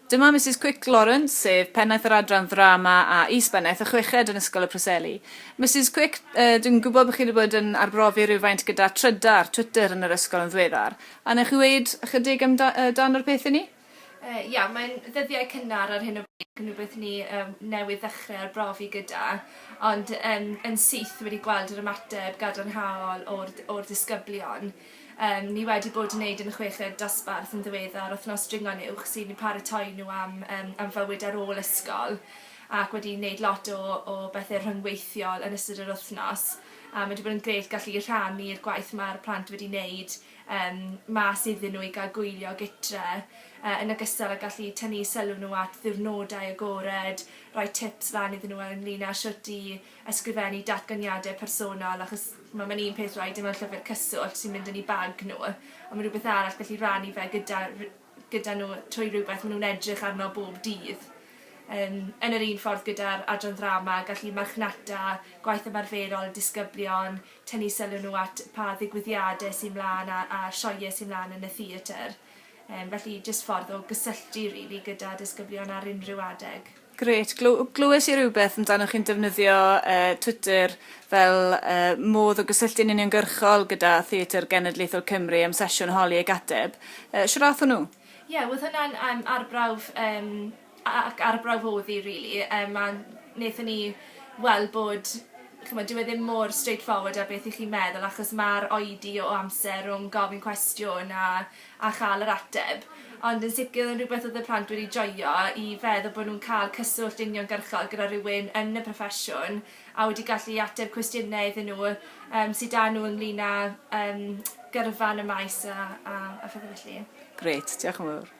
Dyma Misus Quick Lawrence, sef Pennaeth yr Adran Ddrama a Is-bennaeth y Chweched yn Ysgol y Preseli. Misus Quick, yy, dwi'n gwybod bod chi wedi bod yn arbrofi rhywfaint gyda trydar, Twitter, yn yr ysgol yn ddiweddar. A wnewch chi weud ychydig am da- yy, dan o'r peth i ni? Yy, ia, mae'n ddyddiau cynnar ar hyn o bryd ac yn rhywbeth ni, yym, newydd ddechrau arbrofi gyda, ond, yym, yn syth wedi gweld yr ymateb gadarnhaol o'r d- o'r disgyblion. Yym, ni wedi bod yn neud yn y chweched dosbarth yn ddiweddar, wthnos dringo'n uwch sy'n paratoi nhw am yym am fywyd ar ôl ysgol ac wedi neud lot o o bethe rhyngweithiol yn ystod yr wthnos a ma' 'di bod yn grêt gallu rhannu'r gwaith ma'r plant wedi neud yym mas iddyn nhw i ga'l gwylio gytre yy yn ogystal â gallu tynnu sylw nhw at ddiwrnodau agored, roi tips lan iddyn nhw ynglŷn â shwt i ysgrifennu datganiadau personol achos ma' ma'n un peth rhaid e mewn llyfyr cyswllt sy'n mynd yn 'u bag nw a ma' rwbeth arall gallu rannu fe gyda ry- gyda nw trwy rywbeth ma' nw'n edrych arno bob dydd. Yym yn yr un ffordd gyda'r adran ddrama gallu marchnata gwaith ymarferol y disgyblion, tynnu sylw nw at pa ddigwyddiade sy mlan a a sioe sy mlan yn y theatr. Yym felly jyst ffordd o gysylltu rili gyda disgyblion ar unrhyw adeg. Grêt. Gl- glywes i rywbeth amdanoch chi'n defnyddio uh, Twitter fel uh, modd o gysylltu'n uniongyrchol gyda Theatr Genedlaethol Cymru am sesiwn holi ac ateb. Uh, Siwrath hwnnw? Ie, yeah, oedd hwnna'n um, arbrawf, um, ac arbrawf oedd i, really. Um, a wnaethon ni weld bod chymod, dyw e ddim mor straightforward a beth i chi'n meddwl, achos mae'r oedi o amser rhwng gofyn cwestiwn a a chael yr ateb, ond yn sicr oedd yn rhywbeth oedd y plant wedi joio, i feddwl bod nhw'n cael cyswllt uniongyrchol gyda rhywun yn y proffesiwn a wedi gallu i ateb cwestiynau iddyn nhw yym sy 'da nhw ynglyn â yym gyrfa yn y maes a a a phethe felly. Grêt, diolch yn fawr.